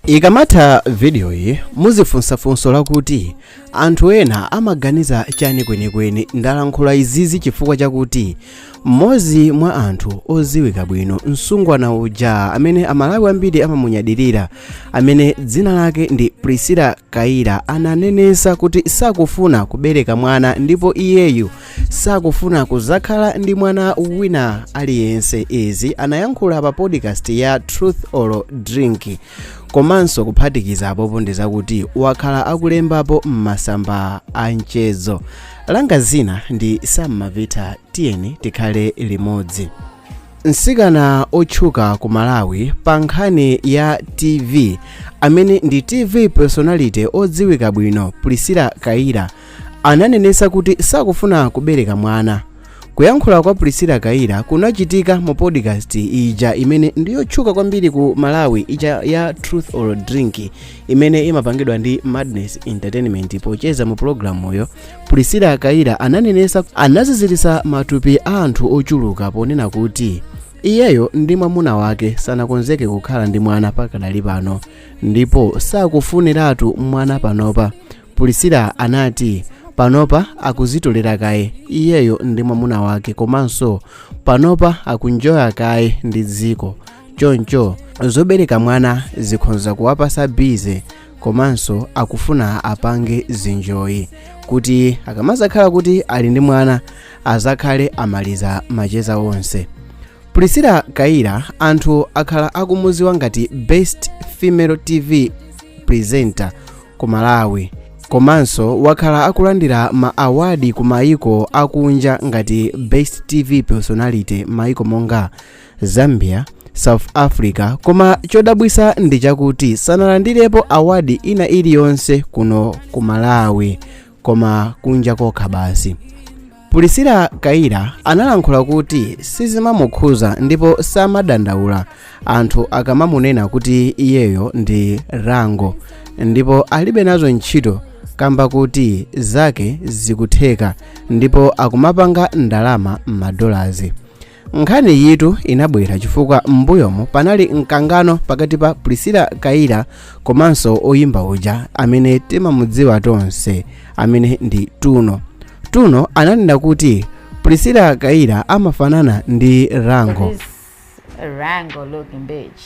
Ikamatha vidiyoyi muzifunsafunso lakuti, Anthu ena amaganiza chani kwenikweni? Ndalankhula izizi chifukwa chakuti mmodzi mwa anthu odziwika bwino, msungwana uja amene Amalawi ambiri amamunyadirira, amene dzina lake ndi Priscilla Kayira, ananenetsa kuti sakufuna kubereka mwana ndipo iyeyu sakufuna kuzakhala ndi mwana wina aliyense izi anayankhula pa podcast ya truth or drink komanso kuphatikiza apopo ndi zakuti wakhala akulembapo m'masamba a mchezo langa zina ndi Sam Mavita tiyeni tikhale limodzi msikana otchuka ku malawi pa nkhani ya tv amene ndi tv personality odziwika bwino priscilla kayira ananenesa kuti sakufuna kubereka mwana kuyankhula kwa priscilla kayira kunachitika mu podcast ija imene ndiyotchuka kwambiri ku malawi ija ya truth or drink imene imapangidwa ndi madness entertainment pocheza mu programuyo priscilla kayira ananenesa anaziziritsa matupi a anthu ochuluka ponena kuti iyeyo ndi mwamuna wake sanakonzeke kukhala ndi mwana pakadali pano ndipo sakufuniratu mwana panopa priscilla anati panopa akuzitolera kaye iyeyo ndi mwamuna wake komanso panopa akunjoya kaye ndi dziko choncho zobereka mwana zikhonza kuwapasa bize komanso akufuna apange zinjoyi kuti akamazakhala kuti ali ndi mwana azakhale amaliza macheza onse priscilla kayira anthu akhala akumuziwa ngati best female tv presenter ku malawi komanso wakhala akulandira ma awadi ku maiko akunja ngati best tv personality maiko monga zambia south africa koma chodabwisa ndi chakuti sanalandirepo awadi ina iliyonse kuno ku malawi koma kunja kokha basi priscilla kayira analankhula kuti sizimamukhuza ndipo samadandaula anthu akamamunena kuti iyeyo ndi rango ndipo alibe nazo ntchito kamba kuti zake zikutheka ndipo akumapanga ndalama m'madolazi Nkhaniyitu inabwera chifukwa m'mbuyomu panali mkangano pakati pa Priscilla Kayira komanso oyimba uja amene timamudziwa tonse amene ndi Tuno. Tuno ananena kuti Priscilla Kayira amafanana ndi Rango. This Rango looking bitch.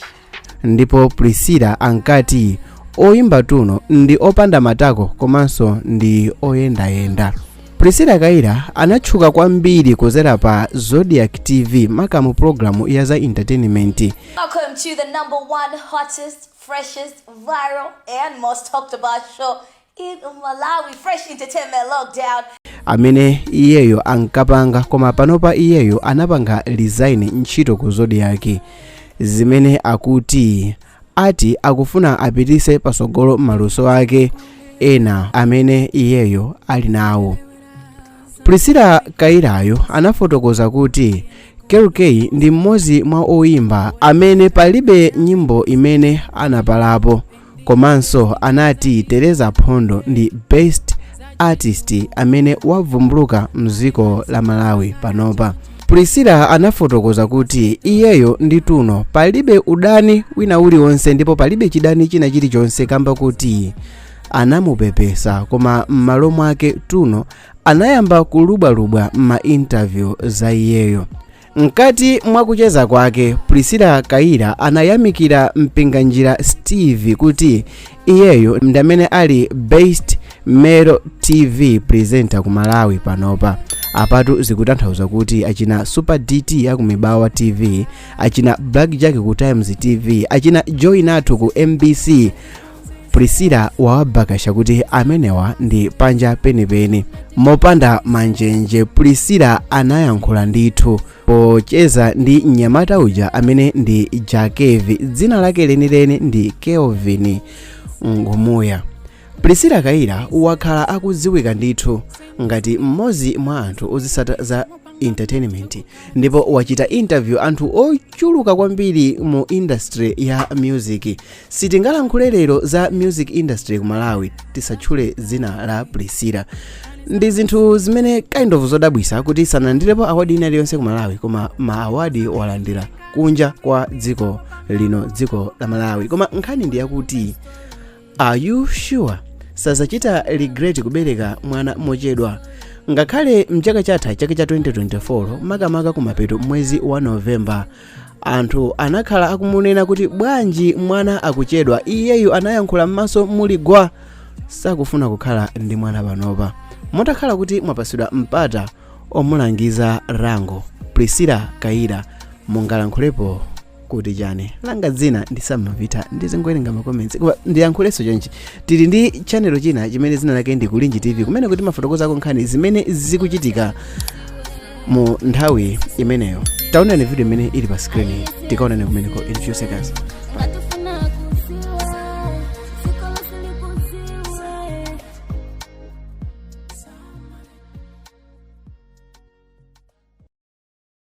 ndipo priscilla ankati oyimba tuno ndi opanda matako komanso ndi oyendayenda priscilla kayira anatchuka kwambiri kuzera pa zodiac tv makamu programu ya za entertainment Welcome to the number one hottest, freshest, viral, and most talked about show In Malawi Fresh Entertainment Lockdown. amene iyeyo ankapanga koma panopa iyeyo anapanga resign ntchito ku zodiac zimene akuti ati akufuna apitise pasogolo maluso ake ena amene iyeyo ali nawo priscilla kayirayo anafotokoza kuti kell kay ndi mmodzi mwa oyimba amene palibe nyimbo imene anapalapo komanso anati theresa phondo ndi best artist amene wavumbuluka mdziko la malawi panopa priscilla anafotokoza kuti iyeyo ndi tuno palibe udani wina uliwonse ndipo palibe chidani china chilichonse kamba kuti anamupepesa koma m'malo mwake tuno anayamba kulubwalubwa m'mainterview za iyeyo Mkati mwa kucheza kwake, Priscilla Kayira anayamikira Mpinganjira Steve kuti iyeyo ndi amene ali best male TV presenter ku Malawi panopa. Apatu zikutanthauza kuti achina Super DT aku Mibawa TV, achina Blackjack ku Times TV, achina Joy Nathu ku MBC priscilla wawabakasha kuti amenewa ndi panja penipeni mopanda manjenje priscilla anayankhula ndithu pocheza ndi mnyamata uja amene ndi jah kev dzina lake lenileni ndi kelvin ngumuya priscilla kayira wakhala akudziwika ndithu ngati mmodzi mwa anthu ozisata za entertainment ndipo wachita interview anthu ochuluka kwambiri mu industry ya music Sitingalankhule lero za music industry ku Malawi tisatchule dzina la Priscilla. Ndi zinthu zimene kind of zodabwisa kuti sanalandirepo award ina iliyonse ku Malawi koma ma award walandira kunja kwa dziko lino dziko la Malawi. Koma nkhani ndi yakuti are you sure sazachita regret kubereka mwana mochedwa ngakhale mchaka chatha chaka cha 2024 makamaka kumapeto m'mwezi wa novemba anthu anakhala akumunena kuti bwanji mwana akuchedwa iyeyu anayankhula m'maso muli gwa sakufuna kukhala ndi mwana panopa mutakhala kuti mwapatsidwa mpata omulangiza langizo priscilla kayira mungalankhulepo kuti chani langa dzina ndi sam mpita ndizingowerenga makomensi koma ndiyankhulenso chonchi tili ndi chanelo china chimene dzina lake ndi kulinji tv kumene timafotokozako nkhani zimene zikuchitika mu nthawi imeneyo taonani video imene ili pa skrini tikaonane kumeneko in few seconds